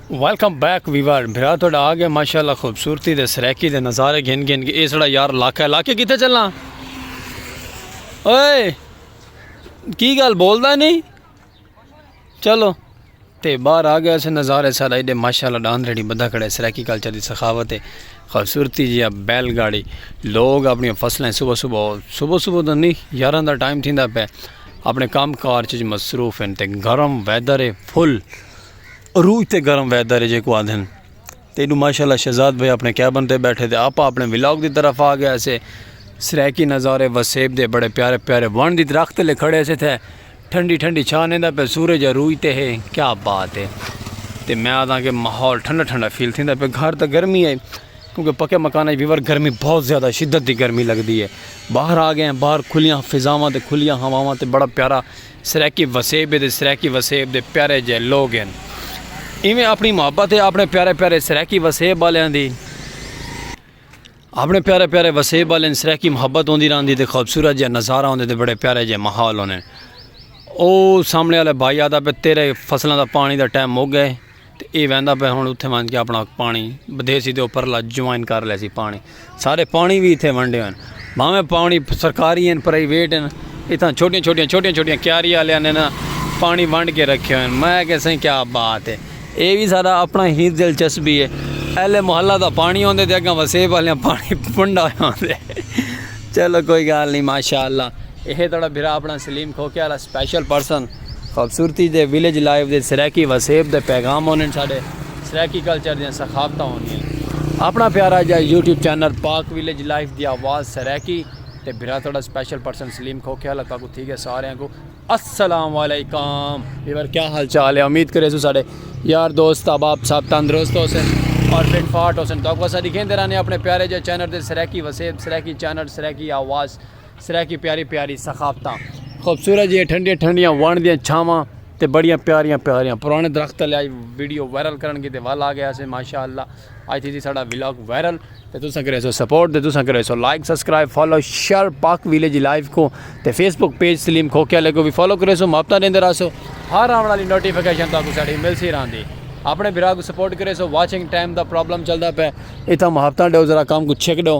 Welcome back viewer بھرا تہاڈا آ گئے ماشاءاللہ خوبصورتی دے سرائیکی دے نظارے گھن گھن کے اے سڑا یار لاکا ہے لاکے کتے چلاں اوئے کی گال بولدا نہیں چلو تے باہر آ گیا سے نظارے سارا ایڈے ماشاءاللہ ڈان ریڈی بدا کھڑے سرائیکی کلچر دی سخاوت ہے خوبصورتی جی اب بیل گاڑی لوگ اپنی فصلیں صبح صبح صبح صبح تو نہیں یاراں دا ٹائم تھیندا پہ اپنے کام کار چیز مصروف ہیں تے گرم ویدر ہے فل عروج تے گرم ویدر ہے جیکو آندھن تے ایڈو ماشاءاللہ شہزاد بھائی اپنے کیبن تے بیٹھے تے آپا اپنے ولاگ دی طرف آ گیا سے سریکی نظارے وسیب دے بڑے پیارے پیارے ون دی درخت لے کھڑے سے تھے ٹھنڈی ٹھنڈی چھا نیندا پہ سورج عروج تے ہے کیا بات ہے تے میں آدھا کہ ماحول ٹھنڈا ٹھنڈا فیل تھیندا پہ گھر تے گرمی ہے کیونکہ پکے مکان وچ ویور گرمی بہت زیادہ شدت دی گرمی لگدی ہے باہر آ گئے ہیں باہر کھلیاں فضاواں تے کھلیاں ہواواں تے بڑا پیارا سرائیکی وسیب ہے تے سرائیکی وسیب دے پیارے جئے لوگ ہن۔ ایویں اپݨی محبت ہے اپݨے پیارے پیارے سرائیکی وسیب آلیاں دی۔ اپݨے پیارے پیارے وسیب آلیاں دی سرائیکی محبت ہوندی رہندی تے خوبصورت جئے نظارہ ہوندے تے بڑے پیارے جئے ماحول ہوندے۔ او سامݨے آلے بھائی آدھا پہ تیرے فصلاں دا پاݨی دا ٹائم مک گئے۔ تے ایہ ویندا پئے ہن اتھے ونج کے اپنا پانی بدھے سی تے او پرلا جوائن کر لے سی پانی سارے پانی وی اتھے ونڈے ہوئے بھاویں پانی سرکاری ہیں پرائیویٹ ہیں اتھاں چھوٹیاں چھوٹیاں چھوٹیاں چھوٹیاں کیاری والے نے نا پانی ونڈ کے رکھے ہوئے میں کہ سائیں کیا بات ہے اے وی سارا اپنا ہی دلچسپی ہے اہل محلہ دا پانی ہوندے تے اگاں وسیب والیاں پانی ونڈا ہوندے چلو کوئی گال نہیں ماشاءاللہ اے تڑا بھرا اپنا سلیم کھوکے والا سپیشل پرسن خوبصورتی دے ولیج لائف دے سرائیکی وسیب دے پیغام ہوندے ہیں ساڈے سرائیکی کلچر دیاں ثقافتاں ہوندیاں ہیں اپنا پیارا جا YouTube channel Pak village life دی آواز سرائیکی تے بھرا تھوڑا سپیشل پرسن سلیم کھوکھے والا تاکو تھی گیا سارے کو السلام علیکم ویور کیا حال چال ہے امید کرے سو ساڈے یار دوست احباب صاحب تندرست ہو سن اور فٹ فاٹ ہو سن تاکو اسا دکھیں دے رہنے اپنے پیارے جا چینل دے سرائیکی وسیب سرائیکی چینل سرائیکی آواز سرائیکی پیاری پیاری ثقافتاں خوبصورت جیاں ٹھنڈیاں ٹھنڈیاں وان دیاں چھاواں تے بڑیاں پیاریاں پیاریاں پرانے درخت لے آئی ویڈیو وائرل کرن کی تے ول آ گیا سے ماشاءاللہ آج تھی جی ساڑا ویلاگ وائرل تے تساں کرے سو سپورٹ تے تساں کرے سو like subscribe follow share Pak village live کو تے فیس بک پیج سلیم کھوکیا لے کو بھی فالو کرے سو ماپتا دیندے رہا سو ہر آن والی نوٹیفیکیشن تاکو ساڑی مل سی رہاں دی اپنے بھرا کو سپورٹ کرے سو واچنگ ٹائم دا پرابلم چلدا پہ اتھا محبتاں ڈیو ذرا کام کو چھک ڈیو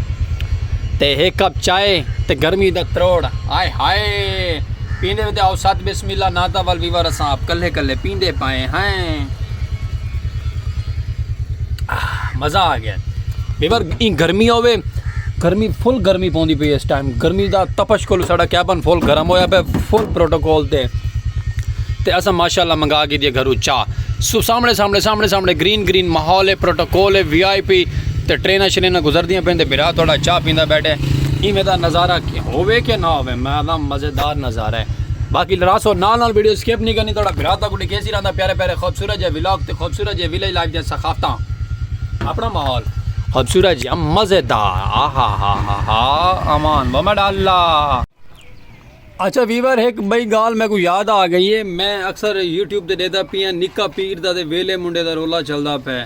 تے ہک کپ چائے تے گرمی دا تروڑ ہائے ہائے پیندے وے تے آؤ ست بسم اللہ نعتاں ول ویور اساں آپ کلھے کلھے پیندے پائیں ہائیں مزہ آ گیا ویور ایں گرمی ہووے گرمی فل گرمی پوندی پئی اس ٹائم گرمی دا تپش کول ساڈا کیبن فل گرم ہویا پہ فل پروٹوکول تے تے اساں ماشاءاللہ منگا کے دی گھرو چا سو سامنے سامنے سامنے سامنے گرین گرین ماحول ہے پروٹوکول ہے وی آئی پی تے ٹریناں شریناں گزردیاں پئین تے بھرا تہاڈا چاہ پیندا بیٹھے ایویں دا نظارہ ہووے کہ نہ ہووے میں آکھداں مزیدار نظارہ ہے باقی لڑاسو نال نال ویڈیو سکپ نی کرنی تہاڈا بھرا تہاکوں ڈکھیسی رہندا پیارے پیارے خوبصورت جئے ولاگ تے خوبصورت جئے ولیج لائف دیاں ثقافتاں اپنا ماحول خوبصورت جئے مزیدار آہاہاہاہا امان ومڈ اللہ۔ اچھا ویور ہک بئی گال میکوں یاد آ گئی ہے میں اکثر یوٹیوب تے ڈیدھا پیاں نکا پیر دا تے ویلے منڈے دا رولا چلدا پئے۔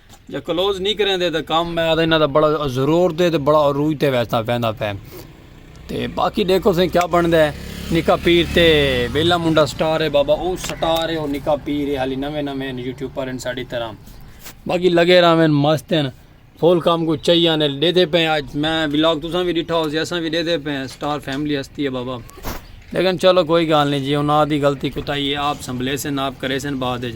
جے کلوز نی کریندے تاں کم میں آدھا انہاں دا بڑا ضرور دے تے بڑا عروج تے ویستا ویندا پے تے باقی دیکھو سیں کیا بندا ہے نکا پیر تے ویلا منڈا سٹار ہے بابا او سٹار ہے او نکا پیر ہے حالی نویں نویں یوٹیوب پر ان ساڈی طرح باقی لگے راویں مست ہیں فول کام کو چاہیے نے دے دے پے اج میں ولاگ تساں بھی ڈٹھا ہو سی اساں بھی دے دے پے سٹار فیملی ہستی ہے بابا لیکن چلو کوئی گال نہیں جی انہاں دی غلطی کوتاہی ہے آپ سنبھلے سن آپ کرے سن بعد وچ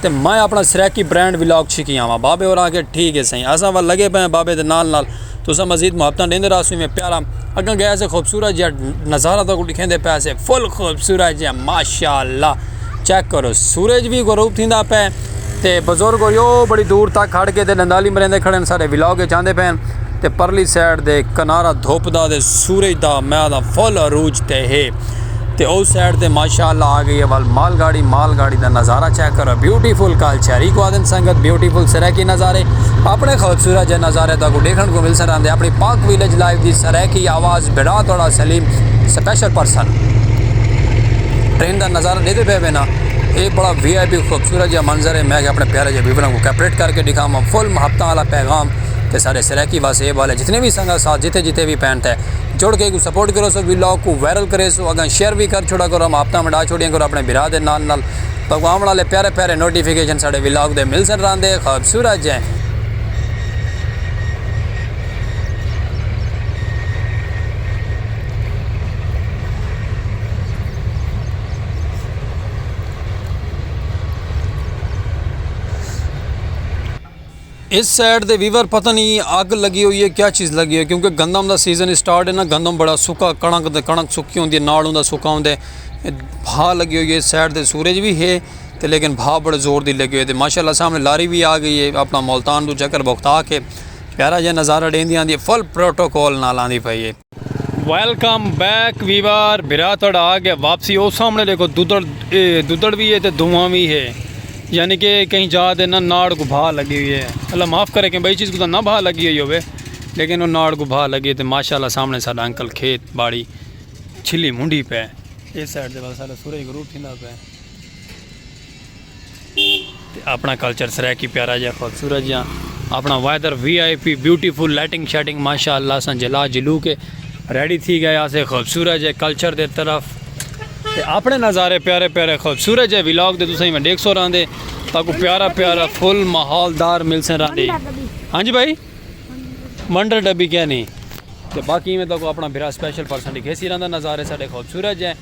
تے میں اپݨا سرائیکی برانڈ ولاگ چھکی آواں بابے ہور آکھیا ٹھیک ہے سئیں اساں ول لگے پئے ہیں بابے دے نال نال تساں مزید محبتاں ݙیندے رہسوں ایویں پیارا اگاں گئے سے خوبصورت جیہا نظارہ تہاکوں ݙکھیندے پئے سے فل خوبصورت جیہا ماشاء اللہ چیک کرو سورج وی غروب تھیندا پئے تے بزرگ ہوئی او بڑی دور تک کھڑ کے تے ݙندالی مریندے کھڑے ہن سارے ولاگ وچ آندے پئے ہن تے پرلی سائیڈ دے کنارہ دھوپ دا تے سورج دا میں آکھداں فل عروج تے ہے تے او سائیڈ تے ماشاءاللہ آگئی ہے ول مال گاڑی مال گاڑی دا نظارہ چیک کرو بیوٹیفل کال چیری کو آدن سنگت بیوٹیفل سرائیکی نظارے اپنے خوبصورت جے نظارے دا کو دیکھن کو مل سران دے اپنی پاک ویلیج لائیو دی سرائیکی آواز بڑا توڑا سلیم سپیشل پرسن ٹرین دا نظارہ دیدے پہ بینا اے بڑا وی آئی پی خوبصورت جے منظر ہے میں کہ اپنے پیارے جے بیبران کو کیپریٹ کر کے دکھا ماں فل محبتہ والا پیغام تے سارے سرائیکی واسے اے والے جتنے بھی سنگت ساتھ جتے جتے بھی پینٹ ہے جڑ کے کوں سپورٹ کرو سو ویلاگ کوں وائرل کرے سو اگاں شیئر وی کر چھوڑا کرو ہم آپتاں ونڈا چھوڑیاں کرو اپنے بھرا دے نال نال تاکوں آون آلے پیارے پیارے نوٹیفیکیشن ساڈے ویلاگ دے ملسن راندے خوبصورت جے۔ اس سائیڈ دے ویور پتہ نہیں اگ لگی ہوئی ہے کیا چیز لگی ہوئی ہے کیونکہ گندم دا سیزن اسٹارٹ ہے نا گندم بڑا سکا کڑک تے کڑک سکی ہوندی ہے نال ہوندا سکا ہوندے بھا لگی ہوئی ہے اس سائیڈ دے سورج بھی ہے تے لیکن بھا بڑے زور دی لگی ہوئی ہے ماشاءاللہ سامنے لاری بھی آ گئی ہے اپنا ملتان دو چکر بوکتا کے پیارا جے نظارہ ڈیندی آندی ہے فل پروٹوکول نال آندی پئی ہے ویلکم بیک ویوار بھرا تھوڑا آ گیا واپسی او سامنے دیکھو دودڑ دودڑ بھی ہے تے دھواں بھی ہے یعنی کہ کہیں جا دے نہ ناڑ کو بھا لگی ہوئی ہے اللہ معاف کرے کہ بھائی چیز کو نہ بھا لگی ہوئی ہوے لیکن وہ ناڑ کو بھا لگی تے ماشاءاللہ سامنے ساڈا انکل کھیت باڑی چھلی منڈی پہ اس سائیڈ دے سارا سورج غروب تھیندا پہ تے اپنا کلچر سرائیکی پیارا جا خوبصورت جا اپنا weather V I P beautiful lighting شائٹنگ ماشاءاللہ سن جلا جلو کے ریڈی تھی گئے آسے خوبصورت جے کلچر دے طرف تے اپنے نظارے پیارے پیارے خوبصورت جے ویلاگ دے دوسرے میں ڈیکھ سو رہن دے تاکو پیارا پیارا فل محال دار مل سن رہن دے ہاں جی بھائی منڈر ڈبی کیا نہیں تے باقی میں تاکو اپنا بھرا سپیشل پرسن ڈکھے سی رہن دے نظارے ساڑے خوبصورت جے